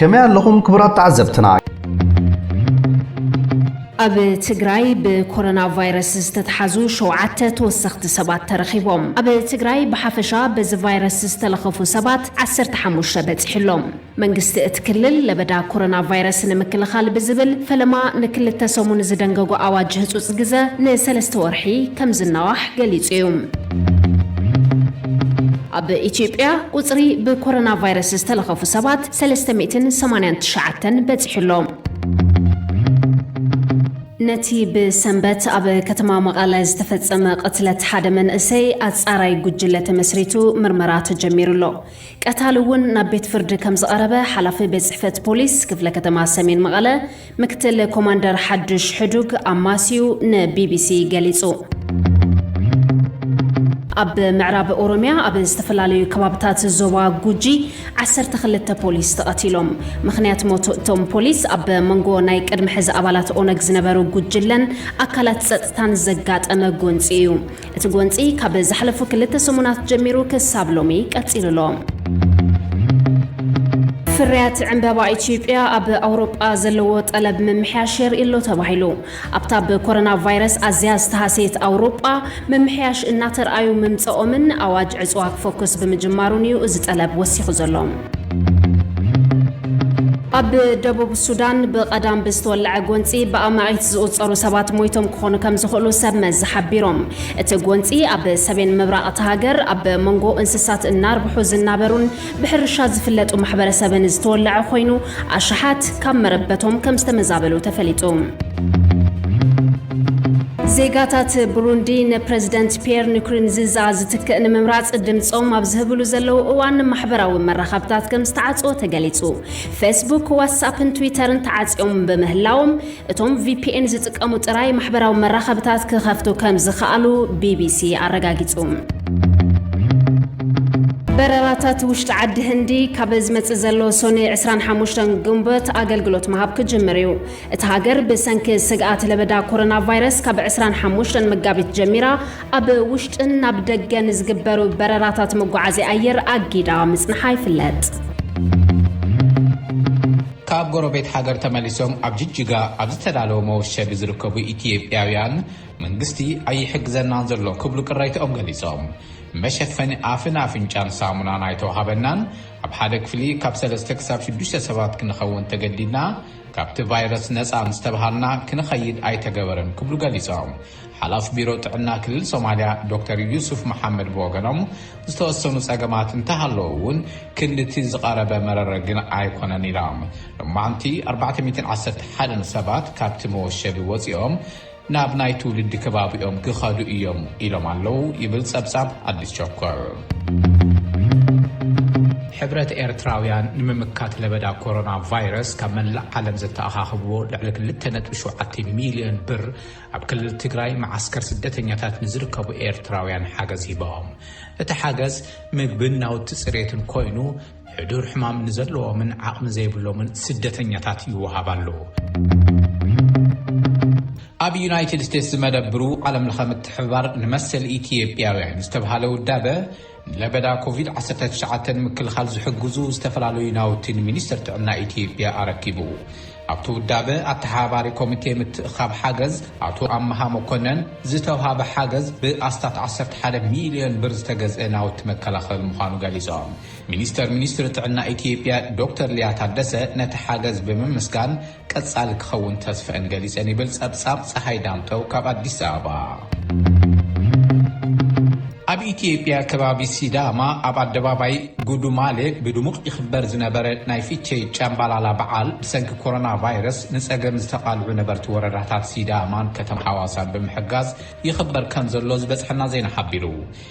ከመይ ኣለኹም ክቡራት ተዓዘብትና? ኣብ ትግራይ ብኮሮና ቫይረስ ዝተትሓዙ ሸውዓተ ተወሰኽቲ ሰባት ተረኺቦም። ኣብ ትግራይ ብሓፈሻ በዚ ቫይረስ ዝተለኸፉ ሰባት ዓሰርተ ሓሙሽተ በፂሑ ኣሎ። መንግስቲ እቲ ክልል ለበዳ ኮሮና ቫይረስ ንምክልኻል ብዝብል ፈለማ ንክልተ ሰሙን ዝደንገጎ ኣዋጅ ህፁፅ ግዘ ንሰለስተ ወርሒ ከምዝናዋሕ ገሊፁ እዩ። ኣብ ኢትዮጵያ ቁፅሪ ብኮሮና ቫይረስ ዝተለኸፉ ሰባት ሰለስተ ሚእትን ሰማንያን ትሽዓተን በፂሑ ኣሎ። ነቲ ብሰንበት ኣብ ከተማ መቐለ ዝተፈፀመ ቅትለት ሓደ መንእሰይ ኣፃራዪ ጉጅለ ተመስሪቱ ምርመራ ተጀሚሩ ኣሎ። ቀታሊ እውን ናብ ቤት ፍርዲ ከም ዝቐረበ ሓላፊ ቤት ፅሕፈት ፖሊስ ክፍለ ከተማ ሰሜን መቐለ ምክትል ኮማንደር ሓዱሽ ሕዱግ ኣማስዩ ንቢቢሲ ገሊፁ። ኣብ ምዕራብ ኦሮሚያ ኣብ ዝተፈላለዩ ከባብታት ዞባ ጉጂ ዓሰርተ ክልተ ፖሊስ ተቐቲሎም። ምኽንያት ሞት እቶም ፖሊስ ኣብ መንጎ ናይ ቅድሚ ሕዚ ኣባላት ኦነግ ዝነበሩ ጉጅለን ኣካላት ፀፅታን ዘጋጠመ ጎንፂ እዩ። እቲ ጎንፂ ካብ ዝሓለፉ ክልተ ሰሙናት ጀሚሩ ክሳብ ሎሚ ቀፂሉ ኣሎ። ፍርያት ዕምበባ ኢትዮጵያ ኣብ ኣውሮጳ ዘለዎ ጠለብ ምምሕያሽ የርኢ'ሎ ተባሂሉ። ኣብታ ብኮረና ቫይረስ ኣዝያ ዝተሃሰየት ኣውሮጳ ምምሕያሽ እናተርኣዩ ምምፀኦምን ኣዋጅ ዕፅዋ ክፎክስ ብምጅማሩን እዩ እዚ ጠለብ ወሲኹ ዘሎ። ኣብ ደቡብ ሱዳን ብቐዳም ብዝተወለዐ ጎንፂ ብኣማኢት ዝቑፀሩ ሰባት ሞይቶም ክኾኑ ከም ዝኽእሉ ሰብ መዚ ሓቢሮም። እቲ ጎንፂ ኣብ ሰሜን ምብራቕ እታ ሃገር ኣብ መንጎ እንስሳት እናርብሑ ዝናበሩን ብሕርሻ ዝፍለጡ ማሕበረሰብን ዝተወለዐ ኮይኑ ኣሽሓት ካብ መረበቶም ከም ዝተመዛበሉ ተፈሊጡ። ዜጋታት ብሩንዲ ንፕረዚደንት ፒየር ንኩርንዚዛ ዝትክእ ንምምራጽ ድምጾም ኣብ ዝህብሉ ዘለዉ እዋን ማሕበራዊ መራኸብታት ከም ዝተዓጽወ ተገሊጹ። ፌስቡክ፣ ዋትስኣፕን ትዊተርን ተዓጽዮም ብምህላዎም እቶም ቪፒኤን ዝጥቀሙ ጥራይ ማሕበራዊ መራኸብታት ክኸፍቱ ከም ዝኸኣሉ ቢቢሲ ኣረጋጊጹ። በረራታት ውሽጢ ዓዲ ህንዲ ካብ ዝመጽእ ዘሎ ሶኒ ዕስራን ሓሙሽተን ግንቦት ኣገልግሎት ምሃብ ክጅምር እዩ። እታ ሃገር ብሰንኪ ስግኣት ለበዳ ኮሮና ቫይረስ ካብ ዕስራን ሓሙሽተን መጋቢት ጀሚራ ኣብ ውሽጥን ናብ ደገን ዝግበሩ በረራታት መጓዓዝያ ኣየር ኣጊዳ ምጽንሓ ይፍለጥ። ካብ ጎረቤት ሃገር ተመሊሶም ኣብ ጅጅጋ ኣብ ዝተዳለወ መወሸቢ ዝርከቡ ኢትዮጵያውያን መንግስቲ ኣይሕግዘናን ዘሎ ክብሉ ቅሬትኦም ገሊጾም። መሸፈኒ ኣፍን ኣፍንጫን ሳሙናን ኣይተዋሃበናን፣ ኣብ ሓደ ክፍሊ ካብ ሰለስተ ክሳብ ሽዱሽተ ሰባት ክንኸውን ተገዲድና፣ ካብቲ ቫይረስ ነፃ ምስ ተብሃልና ክንኸይድ ኣይተገበረን ክብሉ ገሊፆም። ሓላፊ ቢሮ ጥዕና ክልል ሶማሊያ ዶክተር ዩሱፍ መሓመድ ብወገኖም ዝተወሰኑ ፀገማት እንተሃለዉ እውን ክንዲ እቲ ዝቐረበ መረረ ግን ኣይኮነን ኢሎም። ሎማዕንቲ ኣርባዕተ ሚእትን ዓሰርተ ሓደን ሰባት ካብቲ መወሸቢ ወፂኦም ናብ ናይ ትውልዲ ከባቢኦም ክኸዱ እዮም ኢሎም ኣለዉ ይብል ጸብጻብ ኣዲስ ቸኮል። ሕብረት ኤርትራውያን ንምምካት ለበዳ ኮሮና ቫይረስ ካብ መላእ ዓለም ዘተኣኻኽብዎ ልዕሊ 2.7 ሚልዮን ብር ኣብ ክልል ትግራይ መዓስከር ስደተኛታት ንዝርከቡ ኤርትራውያን ሓገዝ ሂቦም። እቲ ሓገዝ ምግብን ናውቲ ፅሬትን ኮይኑ ሕዱር ሕማም ንዘለዎምን ዓቕሚ ዘይብሎምን ስደተኛታት ይወሃብ ኣሎ። ኣብ ዩናይትድ ስቴትስ ዝመደብሩ ዓለም ለኸ ምትሕብባር ንመሰል ኢትዮጵያውያን ዝተብሃለ ውዳበ ንለበዳ ኮቪድ-19 ምክልኻል ዝሕግዙ ዝተፈላለዩ ናውቲ ንሚኒስትር ጥዕና ኢትዮጵያ ኣረኪቡ። ኣብቲ ውዳበ ኣተሓባሪ ኮሚቴ ምትእኻብ ሓገዝ ኣቶ ኣመሃ መኮነን ዝተውሃበ ሓገዝ ብኣስታት 11 ሚልዮን ብር ዝተገዝአ ናውቲ መከላኸሊ ምዃኑ ገሊፆም። ሚኒስተር ሚኒስትሪ ጥዕና ኢትዮጵያ ዶክተር ሊያ ታደሰ ነቲ ሓገዝ ብምምስጋን ቀፃሊ ክኸውን ተስፈእን ገሊፀን ይብል ፀብፃብ ፀሃይ ዳምጠው ካብ ኣዲስ ኣበባ። ኣብ ኢትዮጵያ ከባቢ ሲዳማ ኣብ ኣደባባይ ጉዱማሌ ብድሙቕ ይኽበር ዝነበረ ናይ ፊቼ ጫምባላላ በዓል ብሰንኪ ኮሮና ቫይረስ ንፀገም ዝተቓልዑ ነበርቲ ወረዳታት ሲዳማን ከተማ ሓዋሳን ብምሕጋዝ ይኽበር ከምዘሎ ዝበፅሐና ዜና ሓቢሩ።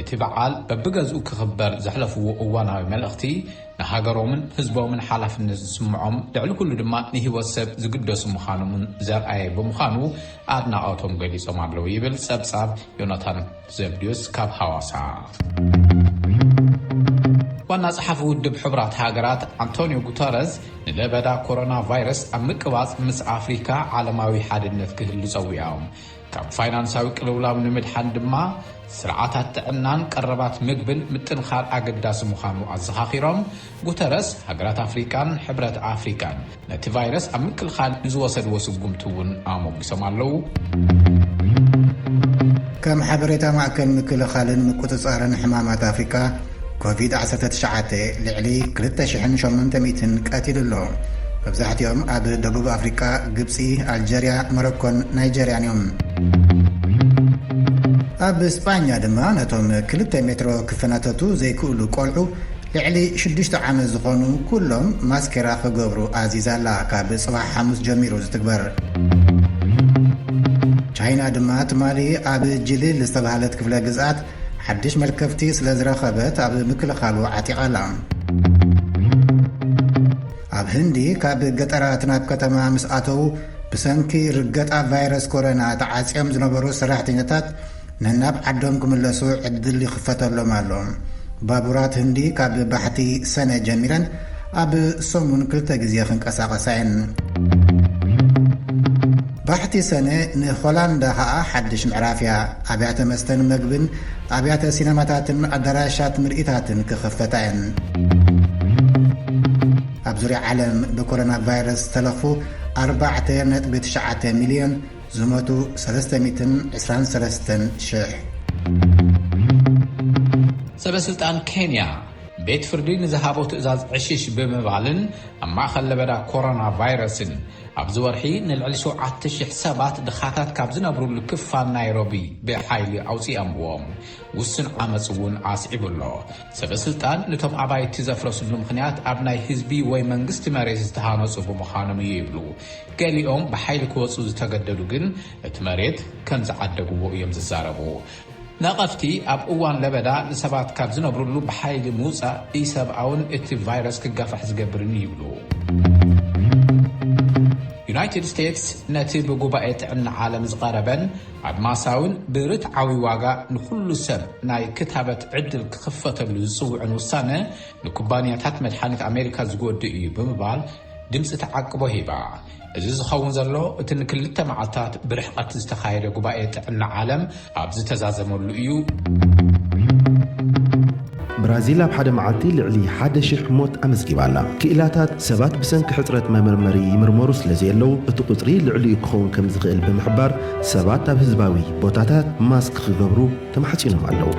እቲ በዓል በብገዝኡ ክኽበር ዘሕለፍዎ እዋናዊ መልእኽቲ ንሃገሮምን ህዝቦምን ሓላፍነት ዝስምዖም ልዕሊ ኩሉ ድማ ንህይወት ሰብ ዝግደሱ ምዃኖምን ዘርኣየ ብምዃኑ ኣድናቖቶም ገሊጾም ኣለዉ ይብል ጸብጻብ ዮናታን ዘብድዮስ ካብ ሃዋሳ። ዋና ጸሓፊ ውድብ ሕቡራት ሃገራት ኣንቶንዮ ጉተረዝ ንለበዳ ኮሮና ቫይረስ ኣብ ምቅባጽ ምስ ኣፍሪካ ዓለማዊ ሓድነት ክህሉ ጸዊዖም። ካብ ፋይናንሳዊ ቅልውላው ንምድሓን ድማ ስርዓታት ጥዕናን ቀረባት ምግብን ምጥንኻር ኣገዳሲ ምዃኑ ኣዘኻኺሮም፣ ጉተረስ ሃገራት ኣፍሪቃን ሕብረት ኣፍሪቃን ነቲ ቫይረስ ኣብ ምክልኻል ንዝወሰድዎ ስጉምቲ እውን ኣሞጒሶም ኣለዉ። ከም ሓበሬታ ማእከል ምክልኻልን ምቁጽጻርን ሕማማት ኣፍሪቃ፣ ኮቪድ ዓሰርተ ትሽዓተ ልዕሊ ክልተ ሽሕን ሸሞንተ ሚእትን ቀቲሉ ኣሎ። መብዛሕቲኦም ኣብ ደቡብ ኣፍሪቃ፣ ግብጺ፣ ኣልጀርያ፣ ሞሮኮን ናይጀርያን እዮም። ኣብ ስጳኛ ድማ ነቶም ክልተ ሜትሮ ክፈናተቱ ዘይክእሉ ቆልዑ ልዕሊ ሽዱሽተ ዓመት ዝኾኑ ኩሎም ማስኬራ ክገብሩ ኣዚዛ ኣላ፣ ካብ ጽባሕ ሓሙስ ጀሚሩ ዝትግበር። ቻይና ድማ ትማሊ ኣብ ጂሊል ዝተባህለት ክፍለ ግዝኣት ሓድሽ መልከፍቲ ስለ ዝረኸበት ኣብ ምክልኻሉ ዓጢቓ ኣላ። ኣብ ህንዲ ካብ ገጠራት ናብ ከተማ ምስ ኣተዉ ብሰንኪ ርገጣ ቫይረስ ኮረና ተዓጽዮም ዝነበሩ ሰራሕተኛታት ነናብ ዓዶም ክምለሱ ዕድል ይኽፈተሎም ኣሎ። ባቡራት ህንዲ ካብ ባሕቲ ሰነ ጀሚረን ኣብ ሰሙን ክልተ ግዜ ክንቀሳቐሳ እየን። ባሕቲ ሰነ ንሆላንዳ ከኣ ሓድሽ ምዕራፍ እያ። ኣብያተ መስተን መግብን፣ ኣብያተ ሲነማታትን ኣዳራሻት ምርኢታትን ክኽፈታ እየን። ኣብ ዙርያ ዓለም ብኮሮና ቫይረስ ዝተለኽፉ ኣርባዕተ ነጥቢ ትሽዓተ ሚልዮን፣ ዝሞቱ ሰለስተ ሚእትን ዕስራን ሰለስተን ሽሕ። ሰበስልጣን ኬንያ ቤት ፍርዲ ንዝሃቦ ትእዛዝ ዕሽሽ ብምባልን ኣብ ማእኸል ለበዳ ኮሮና ቫይረስን ኣብዚ ወርሒ ንልዕሊ ሸውዓተ ሽሕ ሰባት ድኻታት ካብ ዝነብሩሉ ክፋል ናይሮቢ ብሓይሊ ኣውፂኦምዎም። ውሱን ዓመፅ እውን ኣስዒቡ ኣሎ። ሰበ ስልጣን ንቶም ኣባይቲ ዘፍረስሉ ምኽንያት ኣብ ናይ ህዝቢ ወይ መንግስቲ መሬት ዝተሃነፁ ብምዃኖም እዩ ይብሉ። ገሊኦም ብሓይሊ ክወፁ ዝተገደዱ ግን እቲ መሬት ከምዝዓደግዎ እዮም ዝዛረቡ። ነቐፍቲ ኣብ እዋን ለበዳ ንሰባት ካብ ዝነብርሉ ብሓይሊ ምውፃእ ኢሰብኣውን እቲ ቫይረስ ክጋፋሕ ዝገብርን እዩ ይብሉ። ዩናይትድ ስቴትስ ነቲ ብጉባኤ ጥዕና ዓለም ዝቐረበን ኣድማሳዊን ብርትዓዊ ዋጋ ንኹሉ ሰብ ናይ ክታበት ዕድል ክኽፈተሉ ዝፅውዕን ውሳነ ንኩባንያታት መድሓኒት ኣሜሪካ ዝጎድእ እዩ ብምባል ድምጺ ተዓቅቦ ሂባ። እዚ ዝኸውን ዘሎ እቲ ንክልተ መዓልታት ብርሕቐት ዝተኻየደ ጉባኤ ጥዕና ዓለም ኣብ ዝተዛዘመሉ እዩ። ብራዚል ኣብ ሓደ መዓልቲ ልዕሊ ሓደ ሽሕ ሞት ኣመዝጊባ ኣላ። ክኢላታት፣ ሰባት ብሰንኪ ሕጽረት መመርመሪ ይምርመሩ ስለዘየለዉ፣ እቲ ቁጽሪ ልዕሊኡ ክኸውን ከምዝኽእል ብምሕባር፣ ሰባት ኣብ ህዝባዊ ቦታታት ማስክ ክገብሩ፣ ተማሕጺኖም ኣለዉ።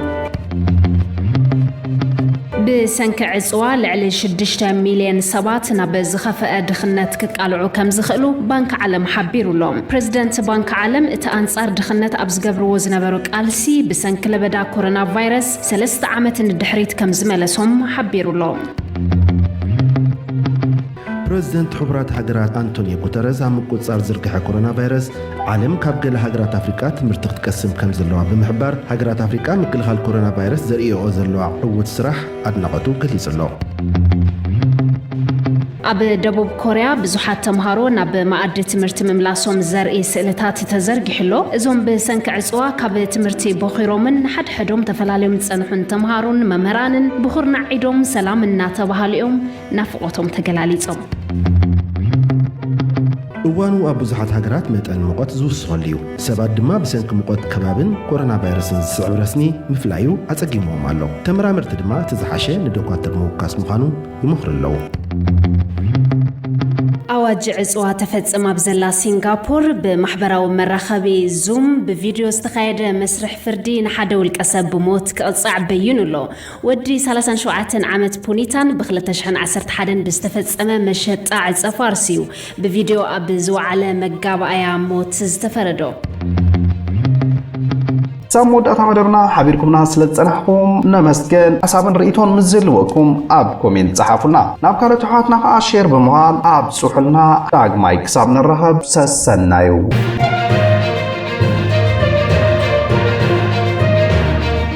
ብሰንኪ ዕጽዋ ልዕሊ ሽዱሽተ ሚልየን ሰባት ናብ ዝኸፈኣ ድኽነት ክቃልዑ ከምዝኽእሉ ባንኪ ዓለም ሓቢሩ ኣሎ። ፕረዚደንት ባንኪ ዓለም እቲ ኣንጻር ድኽነት ኣብ ዝገብርዎ ዝነበሩ ቃልሲ ብሰንኪ ለበዳ ኮሮና ቫይረስ ሰለስተ ዓመት ንድሕሪት ከምዝመለሶም ሓቢሩ ኣሎ። ፕረዚደንት ሕቡራት ሃገራት ኣንቶንዮ ጉተረዝ ኣብ ምቁጽጻር ዝርግሐ ኮሮናቫይረስ ዓለም ካብ ገለ ሃገራት ኣፍሪቃ ትምህርቲ ክትቀስም ከምዘለዋ ብምሕባር፣ ሃገራት ኣፍሪቃ ምክልኻል ኮሮናቫይረስ ዘርእየኦ ዘለዋ ዕዉት ስራሕ ኣድናቖቱ ገሊጹ'ሎ። ኣብ ደቡብ ኮርያ ብዙሓት ተምሃሮ ናብ መኣዲ ትምህርቲ ምምላሶም ዘርኢ ስእልታት ተዘርጊሑ ኣሎ። እዞም ብሰንኪ ዕጽዋ ካብ ትምህርቲ ቦኺሮምን ንሓድሕዶም ተፈላልዮም ዝጸንሑን ተምሃሮን መምህራንን ብኹርናዕ ዒዶም ሰላም እናተባሃሉ'ዮም። ናፍቖቶም ተገላሊጾም። እዋኑ ኣብ ብዙሓት ሃገራት መጠን ሙቐት ዝውስኸሉ እዩ። ሰባት ድማ ብሰንኪ ሙቐት ከባብን ኮሮናቫይረስን ዝስዕብ ረስኒ ምፍላዩ ኣጸጊምዎም ኣሎ። ተመራመርቲ ድማ እቲ ዝሓሸ ንዶኳትር ምውካስ ምዃኑ ይመኽሩ ኣለዉ። ኣዋጅ ዕጽዋ ተፈጽም ኣብ ዘላ ሲንጋፖር ብማሕበራዊ መራኸቢ ዙም ብቪድዮ ዝተኻየደ መስርሕ ፍርዲ ንሓደ ውልቀሰብ ብሞት ክቕጻዕ በዪኑ ኣሎ። ወዲ ሰላሳን ሸውዓተን ዓመት ፑኒታን ብ ክልተ ሽሕን ዓሰርተ ሓደን ብዝተፈጸመ መሸጣ ዕጸ ፋርስ'ዩ ብቪድዮ ኣብ ዝወዓለ መጋባእያ ሞት ዝተፈረዶ። ክሳብ መወዳእታ መደብና ሓቢርኩምና ስለ ዝጸናሕኩም ነመስግን። ሓሳብን ርእይቶን ምስ ዝህልወኩም ኣብ ኮሜንት ጸሓፉልና። ናብ ካልኦት ኣሕዋትና ከኣ ሼር ብምባል ኣብጽሑልና። ዳግማይ ክሳብ ንራኸብ ሰሰናዩ።